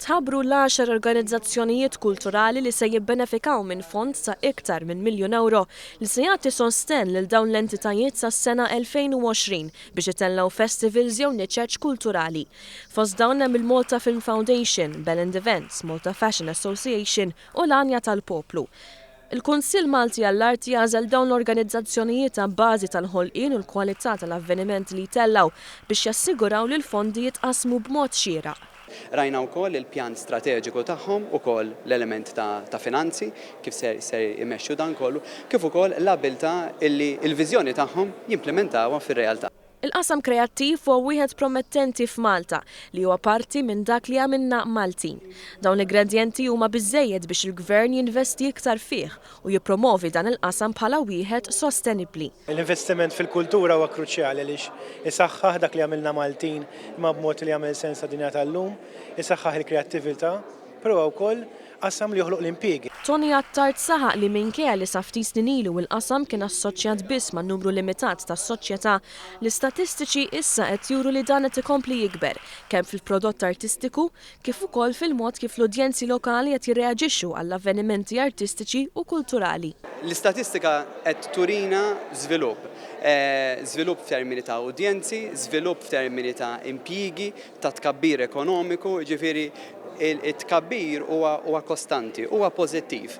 Tħabbru l-għaxar organizzazzjonijiet kulturali li se jibbenefikaw minn fond ta' iktar minn miljun ewro li se jagħti sostenn lil dawn l-entitajiet sas-sena 2020 biex itellgħu festivals jew niċeċ kulturali. Fost dawn hemm il-Malta Film Foundation, Bellend Events, Malta Fashion Association u l-Għanja tal-Poplu. Il-Kunsill Malti għall-Art jagħżel dawn l-organizzazzjonijiet abbażi tal-ħolqien u l-kwalità tal-avvenimenti li jtellgħu biex jassiguraw li l-fondi jitqassmu b'mod xieraq. Rajna wkoll il-pjan strateġiku tagħhom, ukoll l-element ta' finanzi, kif se jmexxu dan kollu, kif ukoll l-abbiltà li l-viżjoni tagħhom jimplimentawha fir-realtà. Il-qasam kreattiv huwa wieħed promettenti f'Malta, li huwa parti minn dak li jagħmilna Maltin. Dawn l-igredjenti huma biżżejjed biex il-Gvern jinvesti iktar fih u jippromovi dan il-qasam bħala wieħed sostenibbli. L-investiment fil-kultura huwa kruċjali għaliex isaħħaħ dak li jagħmilna Maltin imma b'mod li jagħmel sens għad-dinja tal-lum, isaħħaħ il-kreattività, però huwa wkoll Qasam li joħloq l-impjiegi. Tony Attard saħaq li minkejja li sa ftit snin ilu il-qasam kien assoċjat biss ma' numru limitat ta' soċjetà, l-istatistiċi issa qed juru li dan qed ikompli jikber, kemm fil-prodott artistiku, kif ukoll fil-mod kif l-udjenzi lokali qed jirreaġixxu għall-avvenimenti artistiċi u kulturali. L-istatistika qed turina żvilupp, żvilupp f'termini ta' udjenzi, żvilupp f'termini ta' impjiegi, ta' tkabbir ekonomiku, jiġifieri t-tkabbir huwa kostanti, huwa pożittiv.